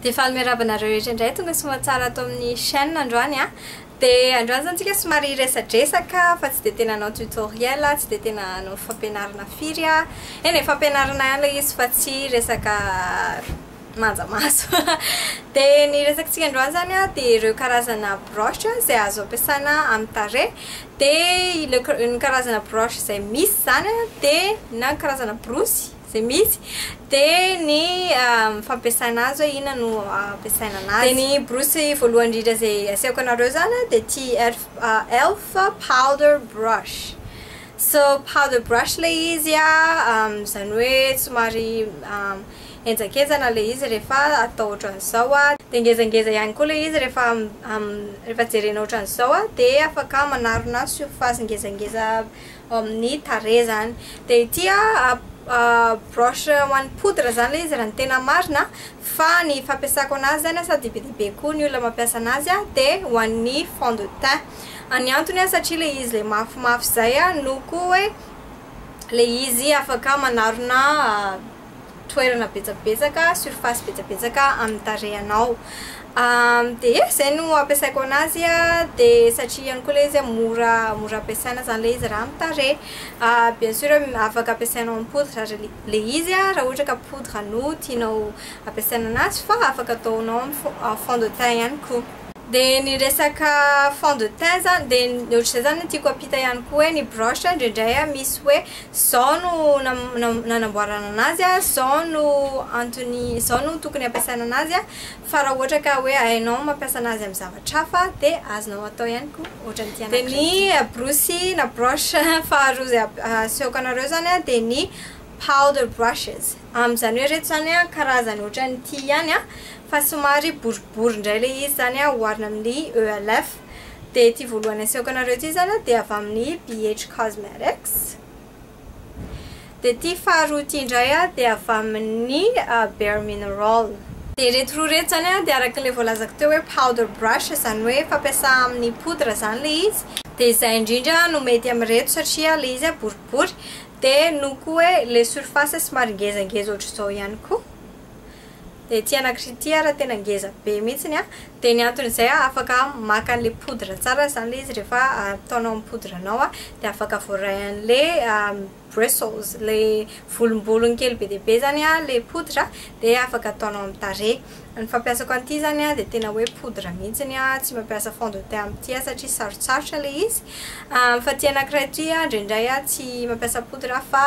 Dia faly miarahaba anareo rehetra indray tonga soamantsara ato amin'ny chaîne androany a! Dia androany izany tsika somary hiresadresaka fa tsy dia tena hanao tutoriel aho, tsy dia tena hanao fampianarana firy aho. Eny e, fampianarana ihany ilay izy fa tsy resaka manja maso. Dia ny resakantsika androany izany a dia ireo karazana broche izay azo ampiasaina amin'ny tarehy. Dia ny karazana broche izay misy izany dia na ny karazana borosy. izay misy, dia ny fampiasana azy hoe inona no ampiasaina anazy. Dia ny borosy voalohany indrindra izay asehoko anareo izany dia ity elf elf powder brush. So powder brush ilay izy an, izany hoe somary henjankenjana ilay izy rehefa atao ohatran'izao an, dia ngezangeza ihany koa ilay izy rehefa rehefa jerena ohatran'izao an, dia afaka manarona surface ngezangeza ao amin'ny tarehy izany. Dia ity broche ho an'ny poudre izany ilay izy raha ny tena marina fa ny fampiasako an'azy izany asa dia be dia be koa ny olona mampiasa an'azy dia ho an'ny fond de teint. Ny antony satria ilay izy ilay mafimafy izay no koa hoe ilay izy afaka manarona toerana betsabetsaka, surface betsabetsaka amin'ny tarehinao. Dia e, izay no ampiasaiko anazy dia satria ihany koa ilay izy mora mora ampiasaina izany ilay izy raha amin'ny tarehy. Bien sûr afaka ampiasainao amin'ny poudre aza ilay izy raha ohatra ka poudre no tianao ampiasaina anazy fa afaka ataonao amin'ny fond de teint ihany koa. Dia ny resaka fond de teint izany dia ny ohatr'izay izany no tiako hampita ihany koa hoe ny brush indraindray misy hoe Zao no nanamboarana anazy, zao no antony, zao no tokony hampiasaina anazy, fa raha ohatra ka hoe hainao mampiasa anazy amin'ny zavatra hafa dia azonao atao ihany koa ohatran'ny ity anankiray ity. Dia ny borosy na brush faharoa izay asehoko anareo izany dia ny powder brushes. Amin'izany hoe ireto izany karazany ohatran'ity ihany fa somary boribory indray ilay izy izany oharina amin'ny ELF. Dia ity voalohany asehoko anareo ity izany an, dia avy amin'ny BH Cosmetics. Dia ity faharoa ity indray an, dia avy amin'ny Bare Mineral. Dia ireto roa ireto izany an, dia araka ilay voalazako teo hoe powder brush, izany hoe fampiasa amin'ny poudre izany ilay izy. Dia izay indrindra no mety amin'ireto satria ilay izy an boribory, dia noho koa hoe ilay surface somary ngezangeza ohatr'izao ihany koa. Ety anakirty ity ara tena ngeza be mihitsiny a! Dia ny antony izay a afaka maka an'ilay poudre tsara izany ilay izy rehefa ataonao amin'ny poudre anao a dia afaka voaray an'ilay bristles, ilay volombolony kely be dia be izany a ilay poudre a dia afaka ataonao amin'ny tarehy. Ny fampiasako an'ity izany a dia tena hoe poudre mihitsiny a, tsy mampiasa fond de teint amin'ity aho satria sarotsarotra ilay izy. Fa ity anakiray ity a indraindray a tsy mampiasa poudre aho fa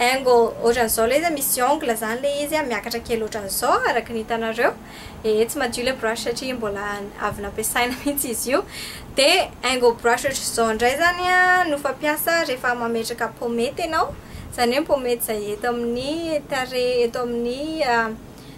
Engo otran'izao lay izy a, misy ongle zany lay izy a, miakatra kely otran'izao araka ny hitanareo, ee tsy madio lay brush satria mbola avy nampiasaina mihitsy izy io, de engo brush otran'izao ndray zany a no fampiasa rehefa mametraka pomette enao, zany hoe pomette zay eto amin'ny tarehy, eto amin'ny.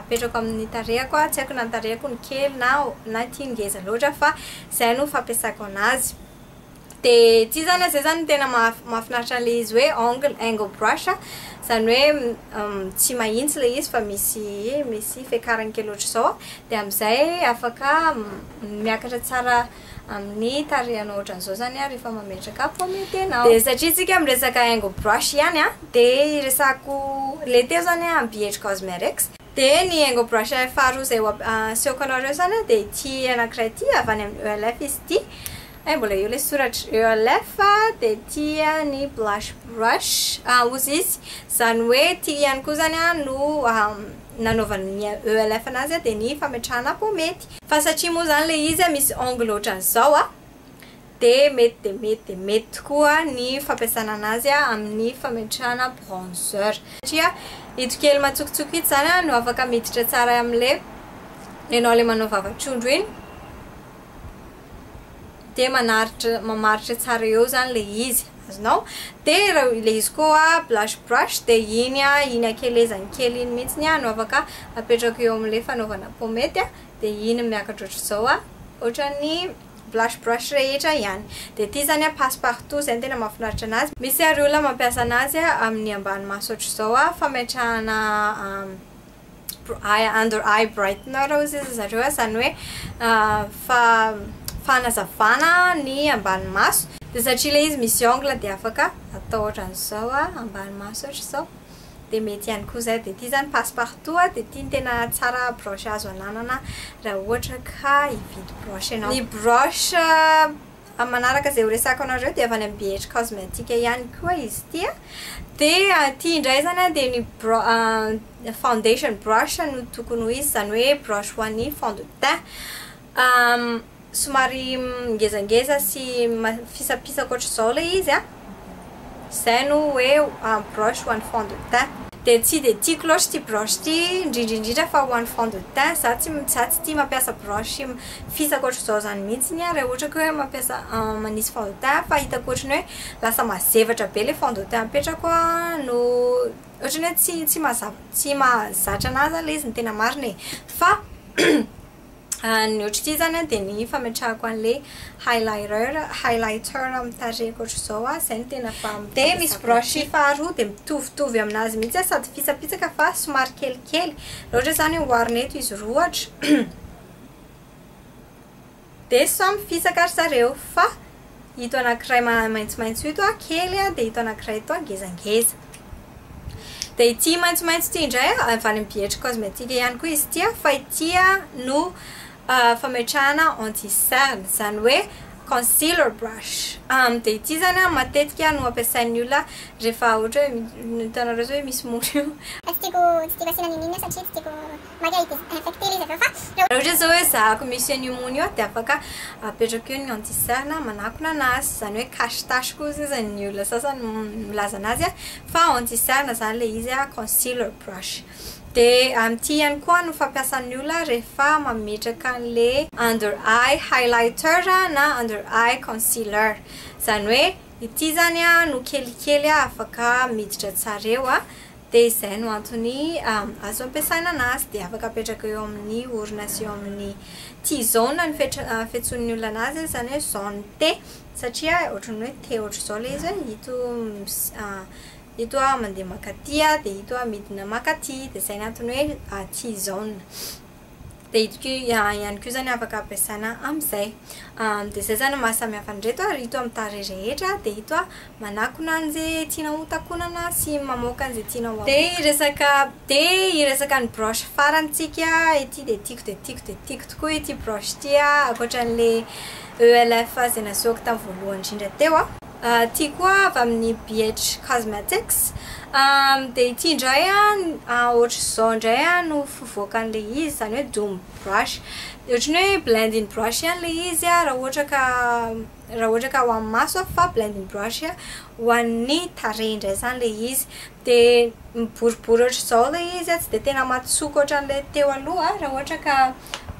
apetrako amin'ny tarehako a, tsy haiko na ny tarehako no kely na na ity ngeza loatra fa zay no fampiasako anazy de tsy zany a, zay zany no tena mahafinaritra an'le izy hoe ongle angle brush a, zany hoe tsy mahintsy le izy fa misy misy fiakarany kely ohatr'izao a, de am'zay afaka miakatra tsara amin'ny tarehanao ohatran'izao zany ary efa mametraka pomme de tenao dia satria tsika miresaka haingo brush ihany a dia iresako le teo zany a Ambiety Cosmerex dia ny haingo brush faharoa izay asehoko anareo zany a dia ity anakiray ity avy any amin'ny ELF izy ity hay mbola eo le soratra ELF dia ity ny blush brush ozy izy zany hoe ity ihany koa zany a no nanaovan'ny ELF anazy dia ny fametrahana pomme Fa satria moa izany ilay izy misy angle ohatran'izao dia mety dia mety dia mety tokoa ny fampiasana an'azy amin'ny fametrahana bronzer. Satria ito kely matsokotsoka ito izany no afaka miditra tsara amin'ilay ianao ilay manao vava-trondro iny dia manaritra, mamaritra tsara eo izany ilay izy. azonao de le izy koa blush brush de iny a iny akelezany kely iny mihitsy ny a no afaka apetrako eo amle fanaovana pomety a de iny miakatra otrzao a otrany blush brush rehetra ihany de ty zany a passe partout zay no tena mahafinaritra anazy misy ary olona mampiasa anazy aminy ambany maso otrzao a fametrahana under eye brightener ozy ry zareo izany hoe fanazavana ny ambany maso dia satria ilay izy misy ongle dia afaka atao ohatran'izao ambany maso ohatran'izao dia mety ihany koa izay dia ity izany passe partout dia ity no tena tsara broche azo ananana raha ohatra ka hividy broche ianao ny broche Amin'ny manaraka izay horesako anareo dia avy any amin'ny BH Cosmetic ihany koa izy ity a. Dia ity indray izany a dia ny bro- foundation brush no tokony ho izy, izany hoe brush ho an'ny fond de teint. Somary ngezangeza sy ma- fisapisaka ohatr'izao ilay izy a. Zay no hoe un broche ho an'ny fond de teint. Dia tsy dia tiako loatra ity broche ity, indrindra indrindra fa ho an'ny fond de teint. Za tsy za tsy tia mampiasa broche fisaka ohatr'izao izany mihitsiny aho raha ohatra ka hoe mampiasa manisy fond de teint fa hitako ohatry ny hoe lasa mazevatra be ilay fond de teint apetrako no ohatry ny hoe tsy tsy mazava tsy mahazatra an'ahy izany ilay izy no tena marina e. Fa. Ny ohatr'ity izany dia ny fametrahako an'ilay highlighter, highlighter amin'ny tarehiko ohatr'izao aho, izay no tena fa mampiavaka ahy. Dia misy brush faharoa, dia mitovitovy amin'azy mihitsy aho, sady pitsapitsaka fa somary kelikely. Raha ohatra izany oharina eto izy roa ohatra, dia samy fisaka ry zareo, fa. ito anankiray maitsomaitso ito an, kely an, dia ito anankiray ito an, ngezangeza. Dia ity maitsomaitso ity indray an, avy any amin'ny Bietry Cosmétique ihany koa izy ity an, fa ity an no fametrahana anti cerne, izany hoe concealer brush. Dia ity izany an matetika no ampiasain'ny olona rehefa ohatra hoe, hitanareo izao hoe misy mora io. Tsy tiako, tsy tiako asiana nini satria tsy tiako. Maria ity infecter le izy avy eo fa raha. Raha ohatra zao hoe zahako misy an'io mony io dia afaka apetrako eo ny anti cerne manakona anazy zany hoe cache tache koa sisa ny olona sasany milaza anazy a fa anti cerne zany le izy a concealer brush de amin'ity ihany koa no fampiasan'ny olona rehefa mametraka an'le under eye highlighter na under eye concealer zany hoe ity zany a no kelikely afaka miditra tsara eo a. dia izay no antony azo ampiasaina anazy dia afaka apetraka eo amin'ny orona sy eo amin'ny T-zone ny fiantsoan'ny olona anazy izany hoe zone T satria ohatran'ny hoe T ohatr'izao ilay izy hoe ito ito aho mandeha makaty dia ito aho midina makaty dia izay no antony hoe T-zone Dia ito ko ihany ko zany afaka ampiasaina amin'izay. Dia izay zany ny maha samy hafa an'ireto ary ito amin'ny tarehy rehetra dia ito manakona an'izay tianao ho takonana sy mamoaka an'izay tianao ho. Dia hiresaka dia hiresaka ny broche farany tsika ity dia tiako dia tiako dia tiako tokoa ity broche ity ankoatran'ilay ELF izay nasehoako tamin'ny voalohany indrindra teo. Ity koa avy amin'ny BH Cosmetics dia ity indray ohatr'izao indray no fivoakan'ilay izy, izany hoe doom brush. Ohatran'ny hoe blending brush ihany ilay izy raha ohatra ka raha ohatra ka ho an'ny maso fa blending brush ho an'ny tarehy indray izany ilay izy. Dia miboribory ohatr'izao ilay izy, tsy dia tena matsoko ohatran'ilay teo aloha raha ohatra ka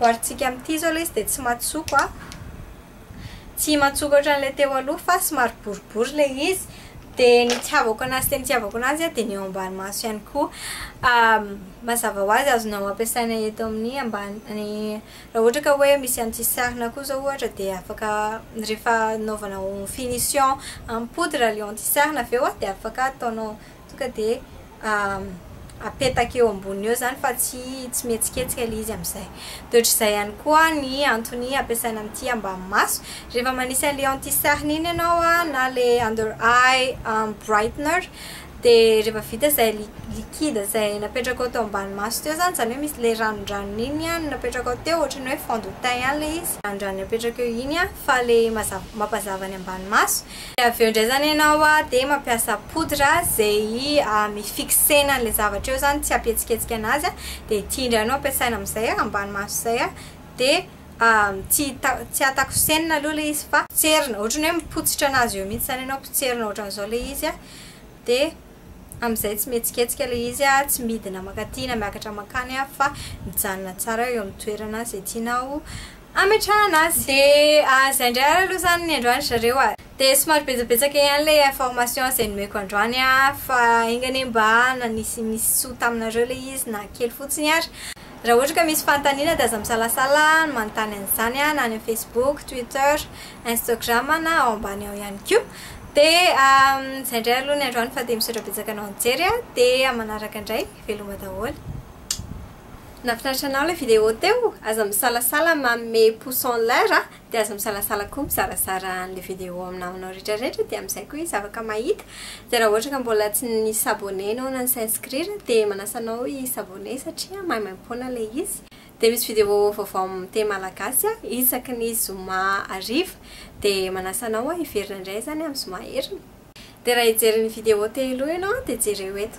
oharintsika amin'ity izao ilay izy dia tsy matsoko. Tsy matsoko ohatran'ilay teo aloha fa somary boribory ilay izy. Dia ny itiavako anazy tena itiavako anazy dia ny eo ambany maso ihany koa. Mazava ho azy azonao ampiasaina eto amin'ny ambany raha ohatra ka hoe misy an'ity sarina koa izao ohatra dia afaka rehefa anaovanao finition en poudre ilay eo amin'ity sarina avy eo dia afaka ataonao Tonga dia apetaka eo amboniny eo izany fa tsy tsy mihetsiketsika ilay izy amin'izay. Dia ohatr'izay ihany koa ny antony ampiasaina amin'ity ambahi-maso. Rehefa manisy an'ilay anti-cerne iny ianao na ilay under eye brightener dia rehefa vita izay liquide izay napetrakao teo ambany maso teo izany, izany hoe misy ilay ranondranony iny no napetrakao teo, ohatran'ny hoe fond de teint ihany ilay izy, ny ranondranony apetraka eo iny fa ilay mampazava ny ambany maso. Dia avy eo indray izany ianao dia mampiasa poudre izay mi-fixena an'ilay zavatra eo izany, tsy hampihetsiketsika an'azy, dia ity indray no ampiasaina amin'izay ambany maso izay, dia tsy tsy hatakosenina aloha ilay izy fa potserina, ohatran'ny hoe mipotsitra an'azy eo mihitsy izany ianao, potserina ohatran'izao ilay izy, dia amin'izay tsy mihetsiketsika ilay izy, tsy midina mankaty na miakatra mankany fa mijanona tsara eo amin'ny toerana izay tianao ametrahana azy. Dia zay indray ary aloha izany ny androany ry zareo a! Dia somary betsabetsaka ihany ilay information izay nomeko androany a! Fa enga anie mba nanisy misy soa taminareo ilay izy na kely fotsiny ary! Raha ohatra ka misy fanontaniana dia aza misalasala manontany an'izany na any amin'ny Facebook, Twitter, Instagram na ao ambany ao ihany koa! Dia izay indray aloha ny androany fa dia misaotra betsaka anao nijery a! Dia amin'ny manaraka indray, veloma daholo. Nafinaritra anao ilay vidéo teo, aza misalasala manome pouce en l'air a, dia aza misalasala koa mizarazara an'ilay vidéo amin'ny namanao rehetra rehetra dia amin'izay koa izy afaka mahita, dia raha ohatra ka mbola tsy ni s'abonner ianao na ni s'inscrire dia manasa anao hi s'abonner satria maimaimpoana ilay izy, dia misy vidéo vaovao amin'ny teny malagasy a isaky ny zoma hariva, dia manasa anao a hiverina indray izany amin'ny zoma heriny. Dia raha hijery ny vidéo telo ianao dia jereo eto.